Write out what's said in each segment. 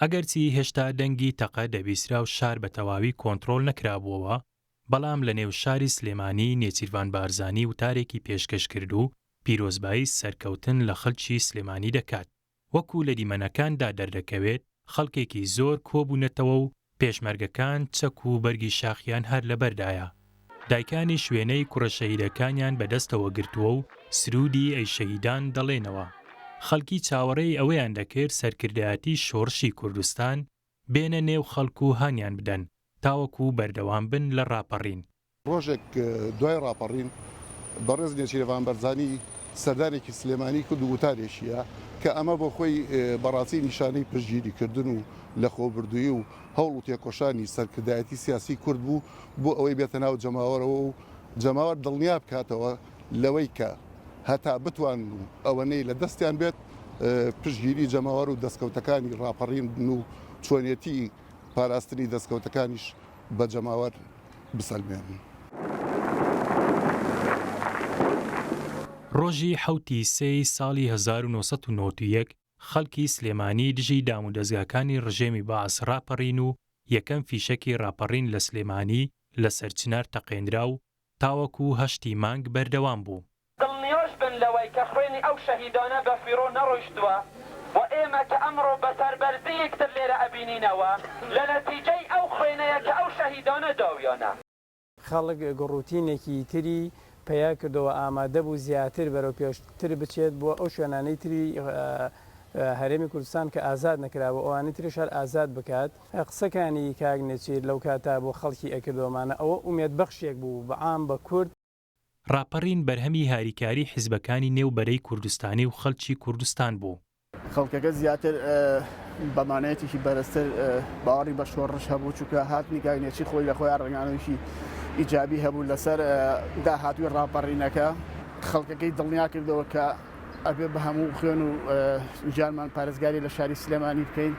ئەگەرچی هێشتا دەنگی تەقە دەبیسرا و شار بە تەواوی کۆنترۆڵ نەکرابووەوە، بەڵام لە نێو شاری سلێمانی نێچیرڤان بارزانی وتارێکی پێشکەش کرد و پیرۆزبایی سەرکەوتن لە خەڵکی سلێمانی دەکات. وەکو لە دیمەنەکاندا دەردەکەوێت، خەڵکێکی زۆر کۆبوونەتەوە و پێشمەرگەکان چەک و بەرگی شاخیان هەر لەبەردایە. دایکانیش وێنەی کوڕە شەهیدەکانیان بە دەستەوە گرتووە و سروودی ئەی شەهیدان دەڵێنەوە. خەڵکی چاوەڕێی ئەوەیان دەکرد سەرکردایەتی شۆڕشی کوردستان بێنە نێو خەڵک و هانیان بدەن تاوەکوو بەردەوام بن لە ڕاپەڕین. ڕۆژێک دوای ڕاپەڕین بەڕێز نێچیرەڤان بەرزانی سەردانێکی سلێمانی کرد و وتارێکیە کە ئەمە بۆ خۆی بەڕاستی نیشانەی پشتگیری کردن و لەخۆبردوویی و هەوڵ و تێکۆشانی سەرکردایەتی سیاسی کورد بوو بۆ ئەوەی بێتە ناو جەماوەرەوە و جەماوەر دڵنیا بکاتەوە لەوەی کە هەتا بتوانن و ئەوەنەی لە دەستیان بێت پشتگیری جەماوەر و دەستکەوتەکانی ڕاپەڕین بن و چۆنێتی پاراستنی دەستکەوتەکانیش بە جەماوەر بسەلمێنن. ڕۆژی حەوت ی سێ ی ساڵی هەزار و نۆ سەد و نەوەد و یەک خەڵکی سلێمانی دژی دامودەزگاکانی ڕژێمی بەعس ڕاپەڕین و یەکەم فیشەکی ڕاپەڕین لە سلێمانی لە سەرچنار تەقێنرا و تاوەکو هەشت ی مانگ بەردەوام بوو. دڵنیاش بن لەوەی کە خوێنی ئەو شەهیدانە بە فیڕۆ نەڕۆیشتووە و ئێمە کە ئەمڕۆ بە سەربەرزی یەکتر لێرە ئەبینینەوە لە نەتیجەی ئەو خوێنەیە کە ئەو شەهیدانە داویانە. خەڵک گوڕوتینێکی تری پەیا کردەوە ئامادە بوو زیاتر بەرەو پێشتر بچێت بۆ ئەو شوێنانەی تری هەرێمی کوردستان کە ئازاد نەکرابوو ئەوانی تریش هەر ئازاد بکات. قسەکانی کاک نێچیر لەو کاتە بۆ خەڵکی ئەکردەوە مانا ئەوە ئومێد بەخشێک بوو بە عام بە کورد. ڕاپەڕین بەرهەمی هاریکاری حیزبەکانی نێو بەرەی کوردستانی و خەلکی کوردستان بوو. خەڵکەکە زیاتر بە مانایەتێکی بەرزتر باوەڕی بە شۆڕش هەبوو چونکە هاتنی گاینێچی خۆی لە خۆیان ڕەنگانەوەیکی ئیجابی هەبوو لەسەر داهاتووی ڕاپەڕینەکە خەڵکەکەی دڵنیا کردەوە کە ئەبێ بە هەموو خوێن و جانمان پارێزگاری لە شاری سلێمانی بکەین.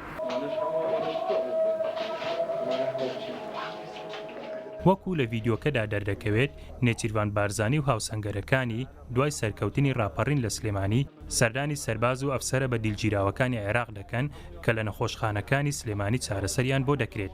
وەکو لە ڤیدیۆکەدا دەردەکەوێت، نێچیرڤان بارزانی و هاوسەنگەرەکانی، دوای سەرکەوتنی راپەڕین لە سلێمانی، سەردانی سەرباز و ئەفسەرە بەدیلگیراوەکانی عێراق دەکەن کە لە نەخۆشخانەکانی سلێمانی چارەسەریان بۆ دەکرێت.